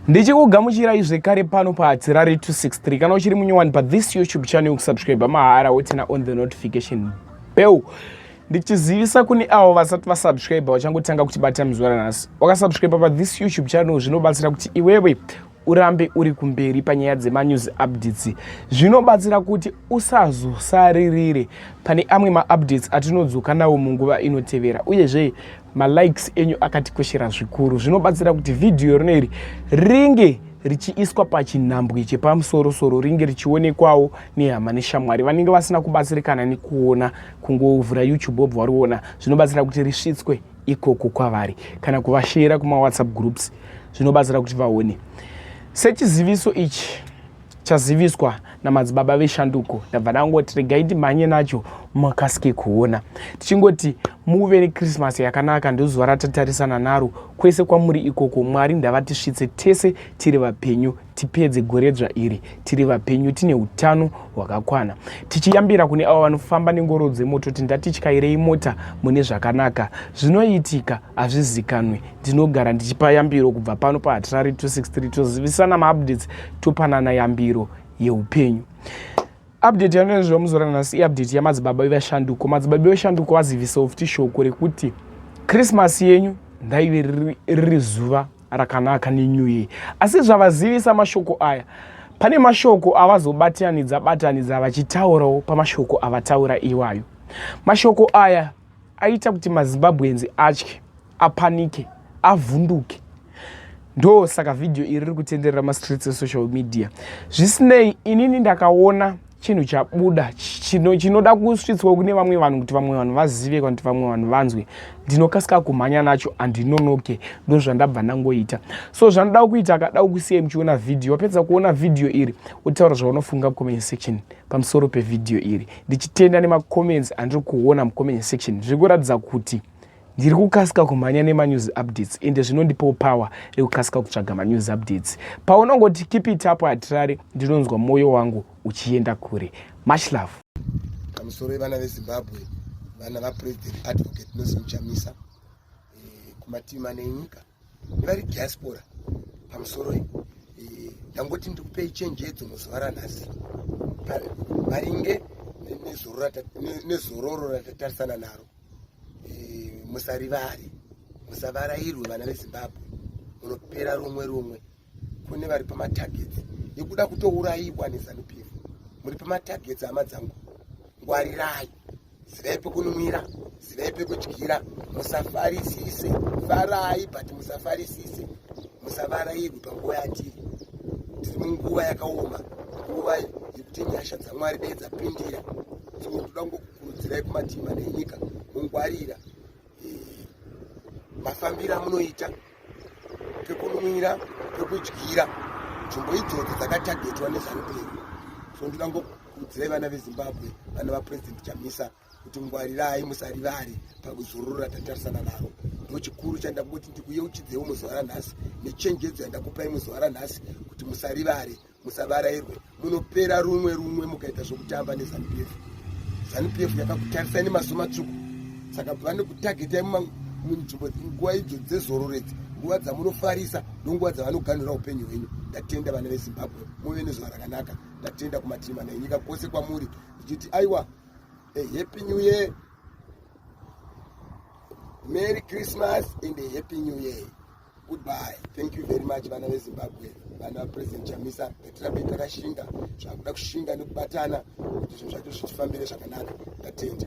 ndichikugamuchirai zvekare pano paatirari 263 kana uchiri munyowani pathis youtube channel kusubscribe mahara wotina on the notification bell ndichizivisa kune avo vasati vasubscribe vachangotanga kuti bata mizwara nhasi wakasubscribe pathis youtube channel zvinobatsira kuti iwewe urambe uri kumberi panyaya dzemanews updates zvinobatsira kuti usazosaririre pane amwe maupdates atinodzoka nawo munguva inotevera uyezve malikes enyu akatikoshera zvikuru zvinobatsira kuti vhidhiyo rino iri ringe richiiswa pachinhambwe chepamusorosoro ringe richionekwawo nehama neshamwari vanenge vasina kubatsirikana nekuona kungovhura youtube wobva wariona zvinobatsira kuti risvitswe ikoko kwavari kana kuvashera kumawhatsapp groups zvinobatsira kuti vaone sechiziviso ichi chaziviswa namadzibaba veshanduko ndabva ndangoti regai ndimhanye nacho makasike kuona tichingoti muve nekrismas yakanaka ndozuva ratatarisana naro kwese kwamuri ikoko mwari ndavatisvitse tese tiri vapenyu tipedze goredzva iri tiri vapenyu tine utano hwakakwana tichiyambira kune avo vanofamba nengoro dzemoto kuti ndatityairei mota mune zvakanaka zvinoitika hazvizikanwe ndinogara ndichipa yambiro kubva pano pahatirari 263 tozivisana maupdates topanana yambiro yeupenyu update yanoenziva muzora nhasi iupdate yamadzibaba vevashanduko madzibaba vevashanduko vazivisa ofti shoko rekuti krismasi yenyu ndaive riri zuva rakanaka nenew year asi zvavazivisa mashoko aya pane mashoko avazobatianidza batanidza vachitaurawo pamashoko avataura iwayo mashoko aya aita kuti mazimbabweans atye apanike avhunduke ndo saka vhidhiyo iri riri kutenderera mastreets esocial media zvisinei inini ndakaona chinhu chabuda chinoda kusvitswa kune vamwe vanhu kuti vamwe vanhu vazive kana kuti vamwe vanhu vanzwe ndinokasika kumhanya nacho handinonoke ndozvandabva ndangoita so zvanoda kuita akada kusiya muchiona vhidhiyo wapedza kuona vhidhiyo iri wotaura zvaunofunga comment section pamusoro pevhidhiyo iri ndichitenda nemacomments andiri kuona mucomment section zviri kuratidza kuti ndiri kukasika kumhanya nemanews updates ende zvinondipawo power rekukasika kutsvaga manews updates paunongoti keep it up hatirari ndinonzwa mwoyo wangu uchienda kure much love pamusoro yevana vezimbabwe vana vapresident advocate nozimuchamisa eh, kumativi mane nyika vari diaspora pamusoro eh, ndangoti ndikupei chenjedzo muzuva ranhasi maringe nezororo ratatarisana naro eh, musarivare musavarairwe vana vezimbabwe munopera rumwe rumwe kune vari pamatargets ekuda kutourayiwa nezanu pf muri pamatargets hama dzangu ngwarirai zivai pekunumira zivai pekudyira musafarisise farai but musafarisise musavarairwi panguva yatiri tiri munguva yakaoma nguva yekuti nyasha dzamwari dai dzapindira so toda ngokukurudzirai kumativi manenyika mungwarira mafambiro amunoita pekunwira pekudyira nzvimbo idzodzo dzakatagetwa nezanupei so ndoda ngokuudzirai vana vezimbabwe vana vapurezidendi chamisa kuti ngwarirai musarivare pakuzorora tatarisana naro ndo chikuru chandakungoti ndikuyeuchidzewo muzuva ranhasi nechenjedzo yandakupai muzuva ranhasi kuti musarivare musavarairwe munopera rumwe rumwe mukaita zvokutamba nezanu pf zanu pf yakakutarisai nemaso matsvuku saka vane kutagetai munzvimbo nguva idzo dzezororedzi nguva dzamunofarisa ndonguva dzavanoganhura upenyu hwenyu ndatenda vana vezimbabwe muve nezuva rakanaka ndatenda kumativi mana enyika kwose kwamuri ndichiti aiwa ahappy new year merry christmas and ahappy new year Goodbye. Thank you very much vana veZimbabwe, vana President Chamisa ngatirambe takashinga zvakuda kushinga nekubatana kuti zvinhu zvacho zvitifambire zvakanaka. Ndatenda.